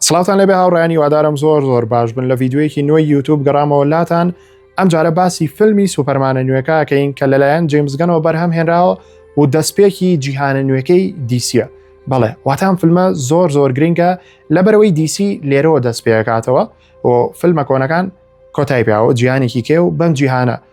سڵاوتان لەبێ هاوڕیان هیوادارم زۆر زۆر باش بن لە ڤیددیوەیەکی نوێی یوتوب گەڕامەوە لاتان ئەم جارە باسی فیلمی سوپەرمانە نوێکەکەین کە لەلایەن جیمزگەنەوە بەرهەم هێنراوە و دەستپێکی جیهانە نوێەکەی دیسیە بەڵێ واتان فیلمە زۆر زۆر گرنگە لە بەرەوەی دیسی لێرەوە دەست پێکاتەوە و فیلمە کۆنەکان کۆتای پیاوە جیانێکی کێ و بەم جیهانە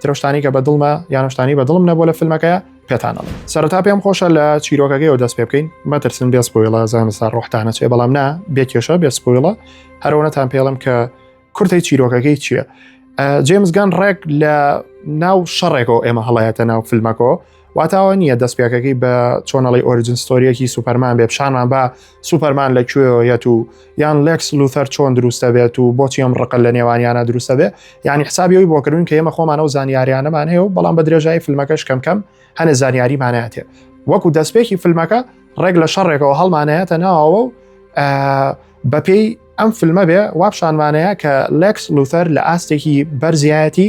ترەو شتانی کە بە دڵمە یانە شتانی بە دڵم نەبوو لە فیلمەکەە پێتانەڵ سەرتا پێم خۆشە لە چیرۆکەکەی و دەست پێ بکەین مەترسن بێ سپۆیڵە زانستا ڕۆحتانە چێ بەڵام نا بێ کێشە بێ سپۆیڵە هەرەوەتان پێڵم کە کورتی چیرۆکەکەی چییە جێمزگان ڕێک لە ناو شەڕێکەوە ئێمە هەڵایەتە ناو فیلمەکەەوە واتاوە نییە دەستپێکەکەی بە چۆنەڵی ئۆریجن ستۆریەکی سوپەرمان بێ پیشانمان بە سوپەرمان لە کوێەت و یان لەکس لوثەر چۆن دروستە بێت و بۆچی ئەم ڕقل لە نێوانیانە دروستە بێ ینی حسابیەوەی بۆکردن کە ئێمە خۆمانە و زانیاریانەمان هەیە و بەڵام بە درێژایی فیلمەکەش کەم کەم هەنە زانیاریماناتێ وەکو دەستپێکی فیلمەکە ڕێک لە شەڕێکەوە هەڵمانەیەتە ناوەوە و بەپێی ئەم فیلمە بێ وابشانمانەیە کە لەکس لوثەر لە ئاستێکی بەرزایەتی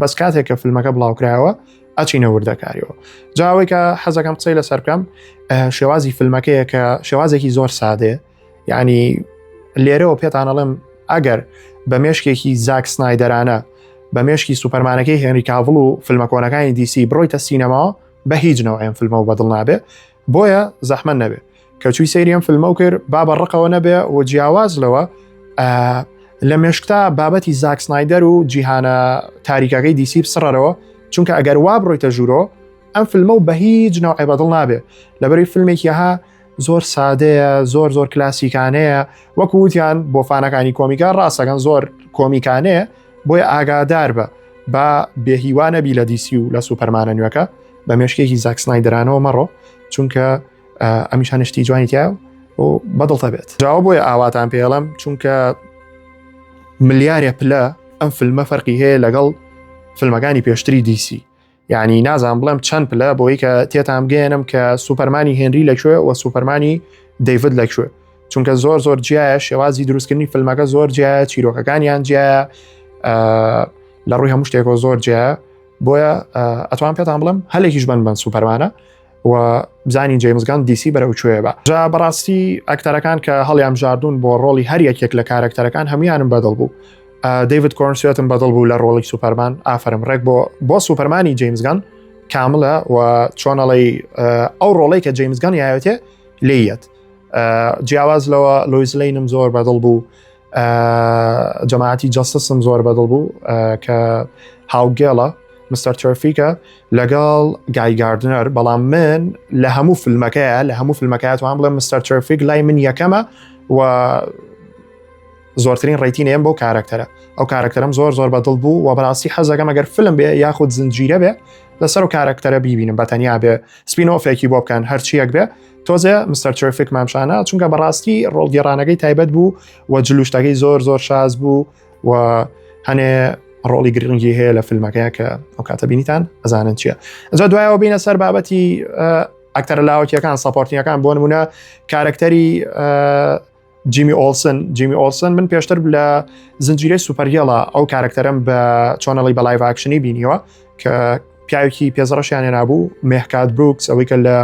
بەس کاتێک کە فیلمەکە بڵاوکرایەوە ئەچینە وردەکاریەوە جاوەی کە حەزەکەم قسەی لەسەر بکەم شێوازی فیلمەکەیە کە شێوازێکی زۆر سادێ ینی لێرەوە پێتانەڵێم ئەگەر بە مێشکێکی زاک سنایدەرانە بە مێشکی سوپەرمانەکەی هێنری کاڤڵ و فیلمەکۆنەکانی دیسی بڕۆیتە سینەما بە هیچ نەوەیان فیلمەوە بەدڵ نابێ بۆیە زەحمە نەبێ کەچووی سەیریم فلمە و کرد با بە ڕقەوە نەبێ و جیاواز لەوە لە مێشکتا بابەتی زاکسنایدەر و جیهانە تاریکەکەی دیسی بسڕەرەوە چونکە ئەگەر وا بڕۆیتە ژوورۆ ئەم فیلمە و بە هیچ ناوعی بەدڵ نابێ لەبەری فیلمێکیها زۆر سادەیە زۆر زۆر کلاسیکانەیە وەکووتیان بۆ فانەکانی کۆمیکە ڕاستەکەن زۆر کۆمیکانەیە بۆیە ئاگادار بە با بێهیوانە بی لە دیسی و لە سوپەرمانە نوێەکە بە مێشکێکی زاکسنای درانەوە مەڕۆ چونکە ئەمیشان شتی جوانی تیا و بەدڵتە بێت جاوە بۆیە ئاواتان پێڵم چونکە ملیارە پلە ئەم فیلمە فەرقی هەیە لەگەڵ فیلمەکانی پێشتری دیسی یعنی نازان بڵێم چەند پلە بۆی کە تێتان بگەێنم کە سوپەرمانی هێنری لەکوێ و سوپەرمانی دەیڤد لەکوێ چونکە زۆر زۆر جیایە شێوازی دروستکردنی فیلمەکە زۆر جیایە چیرۆکەکانیان جیایە لە ڕووی هەموو شتێکەوە زۆر جیایە بۆیە ئەتوان پێتان بڵم هەلێکیش بن بن سوپەرمانە و بزانین جەیمزگان دیسی بەرەو کوێ بە جا بەڕاستی ئەکتەرەکان کە هەڵیان ژاردون بۆ ڕۆڵی هەر یەکێک لە کارەکتەرەکان هەمویانم بەدڵ بوو دەیوت کۆرن سوێتم بەدڵ بوو لە ڕۆڵی سوپەرمان ئافرم ڕێک بۆ بۆ سوپەرمانی جەیمزگان کاملە و چۆنەڵی ئەو ڕۆڵی کە جەیمزگان یاوێتێ لێیەت جیاواز لەوە لۆیزلینم زۆر بەدڵ بوو جەماعەتی جەستسم زۆر بەدڵ بوو کە هاوگێڵە مستەر تۆفیکە لەگەڵ گایگاردنەر بەڵام من لە هەموو فیلمەکەیە لە هەموو فیلمەکەات وان بڵێ مستەر تۆفیک لای من یەکەمە و زۆرترین ڕێتینێن بۆ کارەکتەرە ئەو کارەکتەرم زۆر زۆر بەدڵ بوو و بەڕاستی حەزەکەم ئەگەر فلم بێ یاخود زنجیرە بێ لەسەر و کارەکتەرە بیبینم بەتەنیا بێ سپینۆفێکی بۆ بکەن هەرچیەک بێ تۆزێ مستەر ترفیک مامشانە چونکە بەڕاستی ڕۆڵگەێڕانەکەی تایبەت بوو و جلوشتەکەی زۆر زۆر شاز بوو و هەنێ ڕۆڵی گرنگی هەیە لە فیلمەکەی کە ئەو کاتە بینیتان ئەزانن چییە ئەجا دوایەوە بینە سەر بابەتی ئەکتەرە لاوەکیەکان سەپۆرتنیەکان بۆ نمونە کارکتەری جیمی ئۆلسن جیمی ئۆلسن من پێشتر لە زنجیرەی سوپەرگێڵە ئەو کارکتەرم بە چۆنەڵی بەڵای ڤاکشنی بینیوە کە پیاوێکی پێزڕەشیانە نبوو مهکات بروکس ئەوەی کە لە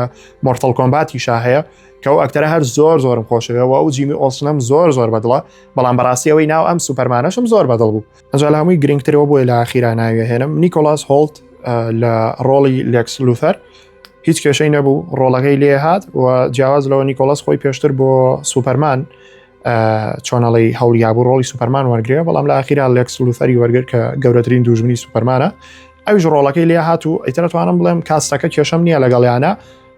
مۆرتەڵ کۆمباتی شا هەیە کە ئەو ئەکتەرە هەر زۆر زۆرم خۆشەوە ئەو جیمی ئۆسنم زۆر زۆر بەدڵە بەڵام بەڕاستیەوەی ناو ئەم سوپەرمانەشم زۆر بەدڵ بوو ئەجا لە هەمووی گرنگترەوە بۆی لە خیراناوی هێنم نیکۆلاس هۆڵت لە ڕۆڵی لێکس لوثەر هیچ کێشەی نەبوو ڕۆڵەکەی لێ هاات و جیاواز لەوە نیکۆلس خۆی پێشتر بۆ سوپەرمان چۆنەڵی هەڵیابوو ڕۆڵی سوپەرمان وەرگێ بەڵام لە ئاخیرا لێکس لوفەری وەرگر کە گەورەترین دوژمنی سوپەرمانە ئەوش ڕۆڵەکەی لێ هاات و ئیترەتوانم بڵێم کاستەکە کێشەم نییە لەگەڵیانە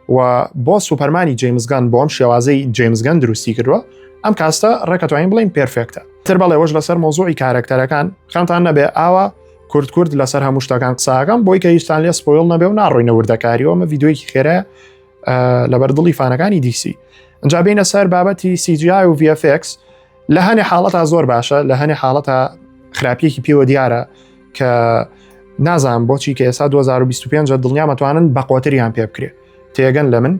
و بۆ سوپەرمانی جیمزگان بۆم شێوازی جیمزگەن دروستی کردووە ئەم کاستە ڕێکەتوانین بڵین پرفێکتە تر بەڵێ وەش لەسەر مۆزوعی کارەکتەرەکان خەمتان نەبێ ئاوا کورد کورد لەسەر هەموو شتەکان قساکەم بۆی کە هیچستان لێ سپۆیل نەبێ و ناڕوینە وردەکاریەوە مە یددیوەیەکی خێرە لەبەر دڵی فانەکانی دیسی ئەجا بینە سەر بابەتی سیجی و VFX لە هەنێ حاڵەتا زۆر باشە لە هەنێ حاڵەتە خراپیەکی پێوە دیارە کە نازان بۆچی کە ئێستا 2025 دڵنیامەتوانن بەقۆتریان پێ بکرێت تێگەن لە من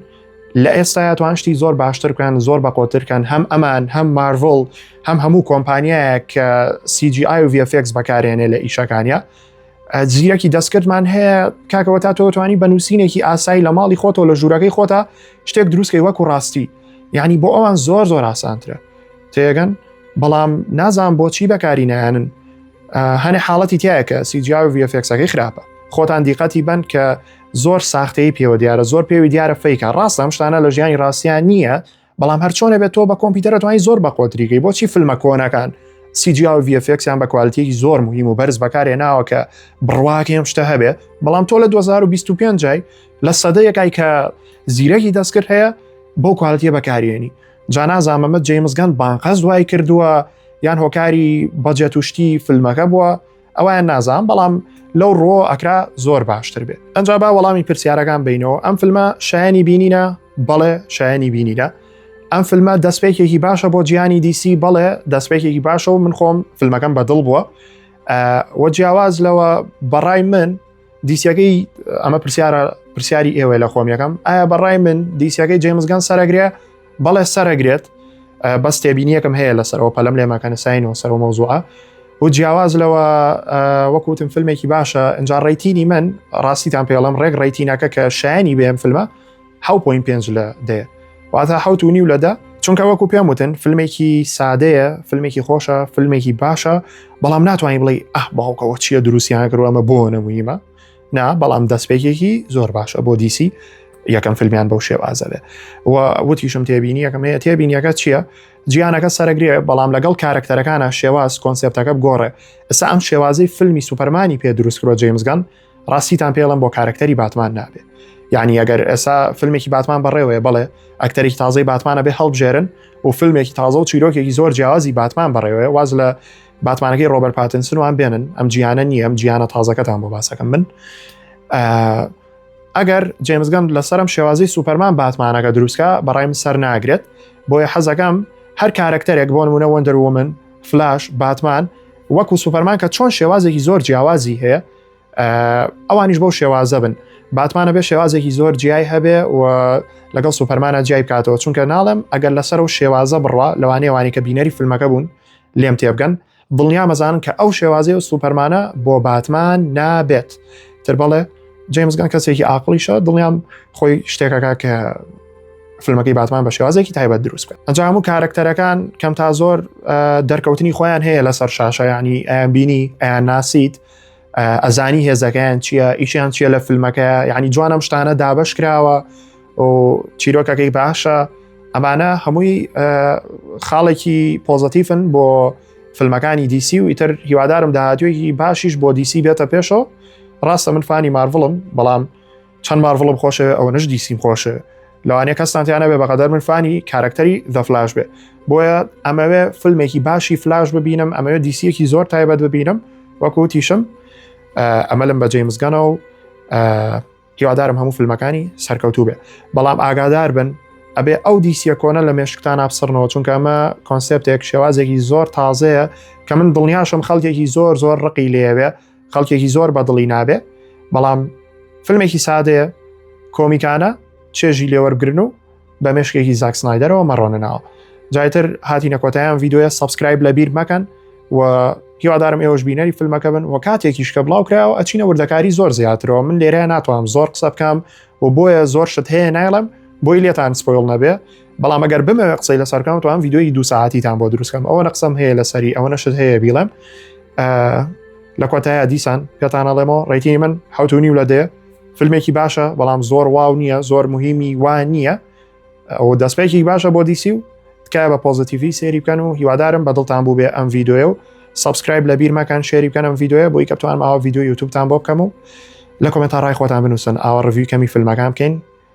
لە ئێستا توان شتی زۆر باشتر بکەن زۆر بە قۆترکەن هەم ئەمان هەم مارڤڵ هەم هەموو کۆمپانیایە کە CGI و VFX بەکارێنێ لە ئیشەکانە جیەکی دەستکردمان هەیە کاکەوە تا تۆتوانی بە نووسینێکی ئاسایی لە ماڵی خۆتەوە لە ژوورەکەی خۆتا شتێک دروستکەی وەکو ڕاستی یعنی بۆ ئەوان زۆر زۆر ئاسانترە تێگەن بەڵام نازان بۆچی بەکاری نایەنن هەنێ حاڵەتی تایە کە سیجیا و VFXەکەی خراپە خۆتان دیقەتی بن کە زۆر ساختەی پێوە دیارە زۆر پێوی دیارە فیکە ڕاستە ئەم شتانە لە ژیانی ڕاستیان نییە بەڵام هەرچۆنە بێت تۆ بە کۆمپیوتەرە توانانی زۆر بە قۆتریگەی بۆچی فیلمە کۆنەکان سیجیا و VFXیان بە کوالتیەکی زۆر مهم و بەرز بەکارێ ناوە کە بڕواکە ئەم شتە هەبێ بەڵام تۆ لە 2025 جای لە سەدەیەکای کە زیرەکی دەستکرد هەیە بۆ کوالتیە بەکارێنی جانازامەمە جەیمزگەند بانقەز دوای کردووە یان هۆکاری بەجێت توشتی فیلمەکە بووە ئەویان نازان بەڵام لەو ڕۆ ئەکرا زۆر باشتر بێت ئەجا با وەڵامی پرسیارەکان بینەوە ئەم فیلمە شایانی بینینە بەڵێ شایانی بینینە ئەم فیلمە دەستپێکێکی باشە بۆ جیانی دیسی بەڵێ دەستپێکێکی باشە و من خۆم فیلمەکەم بەدڵ بووە وە جیاواز لەوە بەڕای من دیسیەکەی ئەمە پرسیارە پرسیاری ئێوە لە خۆم یەکەم ئایا بەڕای من دیسیەکەی جەیمزگان سەرەگرێ بەڵێ سەرەگرێت بەس تێبینیەکەم هەیە لەسەرەوە پەلم لێ ماکەنە ساین و سەرەوە مەوزوعە و جیاواز لەوە وەکوتم فیلمێکی باشە ئەجا ڕێتینی من ڕاستیتان پێڵم ڕێک ڕێتینەکە کە شایانی بێم فیلمە حەوت پۆینت پێنج لە دەیە واتە حەوت و نیو لە دە چونکە وەکو پێم وتن فیلمێکی سادەیە فیلمێکی خۆشە فیلمێکی باشە بەڵام ناتوانانی بڵێ ئەه باوکەوە چییە دروستیان کردو ئەمە بۆ نەمویمە نا بەڵام دەستپێکێکی زۆر باشە بۆ دیسی یەکەم فیلمیان بەو شێوازەێ و وتیشم تێبینی یەکەم هەیە تێبینیەکە چییە جیانەکە سەرگرێ بەڵام لەگەڵ کارکتەرەکانە شێواز کۆنسپتەکە بگۆڕێ ئستا ئەم شێوازی فیلمی سوپەرمانی پێ دروستکرۆ جەیمزگەن ڕاستیتان پێڵم بۆ کارکتەری باتمان نابێ یعنی ئەگەر ئێسا فیلمێکی باتمان بەڕێوەیە بڵێ ئەکتەرێکی تازەی باتمانە بێ هەڵبژێرن و فیلمێکی تازە و چیرۆکێکی زۆر جیازی باتمان بەڕێوەیە واز لە باتمانەکەی ڕۆبەر پاتنسنوان بێنن ئەم جیانە نییە ئەم جیانە تازەکەتان بۆ باسەکەم من ئەگەر جێمزگەم لەسرم شێوازی سوپەرمان باتمانەکە دروستکە بەڕایم سەر ناگرێت بۆیە حەزەکەم هەر کارکتەرێک بۆ نمونە وەندەر ومن فلاش باتمان وەکو سوپەرمان کە چۆن شێوازێکی زۆر جیاوازی هەیە ئەوانیش بەو شێوازە بن باتمانە بێ شێوازێکی زۆر جیای هەبێ و لەگەڵ سوپەرمانە جیای بکاتەوە چونکە ناڵم ئەگەر لەسەر و شێوازە بڕە لەوانێوانی کە بینەری فیلمەکە بوون لێم تێبگەن دڵنیا مەزان کە ئەو شێوازی و سوپەرمانە بۆ باتمان نابێت تر بەڵێ جەمزگان کەسێکی ئاقلیشە دڵنیام خۆی شتێکەکە کە فیلمەکەی باتمان بە شێوازێکی تایبەت دروست بێت ئەنجام و کارەکتەرەکان کەم تا زۆر دەرکەوتنی خۆیان هەیە لەسەر شاشەیانی ئەیان بینی ئەیان ناسیت ئەزانی هێزەکەیان چییە ئیشیان چییە لە فیلمەکە یعنی جوانم شتانە دابش کراوە و چیرۆکەکەی باشە ئەمانە هەمووی خاڵێکی پۆزتیفن بۆ فیلمەکانی دیسی و ئیتر هیوادارم داهاتوێکی باشیش بۆ دیسی بێتە پێشەوە ڕاستە من فانی مارڤڵم بەڵام چەند مارڤڵم خۆشێ ئەوەنش دیسیم خۆشێ لەوانەیە کەستانتیانە بێ بەقەدەر من فانی کارکتەری دە فلاش بێ بۆیە ئەمەوێ فیلمێکی باشی فلاش ببینم ئەمەوێ دیسیەکی زۆر تایبەت ببینم وەکوتیشم ئەمە لەم بەجێ مزگەنە و هیوادارم هەموو فیلمەکانی سەرکەوتوو بێ بەڵام ئاگادار بن ئەبێ ئەو دیسیە کۆنە لە مێشکتان ئابسڕنەوە چونکە ئەمە کۆنسپتێک شێوازێکی زۆر تازەیە کە من دڵنیاشم خەڵکێکی زۆر زۆر ڕقی لێوێ خەڵکێکی زۆر بەدڵی نابێ بەڵام فیلمێکی سادەیە کۆمیکانە چێژی لێوەرگرن و بە مشکێکی زاکسنایدەرەوە مەڕۆنەناوە جایتر هاتی نەکۆتایان یددیوە سبسکرایب لە بیر مەکەن و هیوادارم ئێوەش بینەری فیلمەکە بن و کاتێکیش کە بڵاو کراوە ئەچینە وردەکاری زۆر زیاترەوە من لێرە ناتوانم زۆر قسە بکەم و بۆیە زۆر شت هەیە نایڵم بۆی لێتان سپۆیل نەبێ بەڵام ئەگەر بمەوێ قسەی لەسەر کەم توان یددیوی دو ساعتیتان بۆ دروستکەم ئەوە نەقسەم هەیە لەسەری ئەوە نەشت هەیە بیڵێم لە کۆتایە دیسان پێتانەڵێمەوە ڕێتی من حوتونی و لە دێ فیلمێکی باشە بەڵام زۆر واو نییە زۆر مهمی وا نییە ئەو دەستپێکی باشە بۆ دیسی و تکایە بە پۆزیتیڤی سێری بکەن و هیوادارم بەدڵتان بوو بێ ئەم یددیوە و سبسکرایب لە بیرمەکان شێری بکەنم یددیوە بۆی کە توانم ئاوا یددیو یوتوبتان بۆ بکەم و لە کۆمنتا ڕای خۆتان بنووسن ئاوا ڕڤی کەمی فیلمەکان بکەین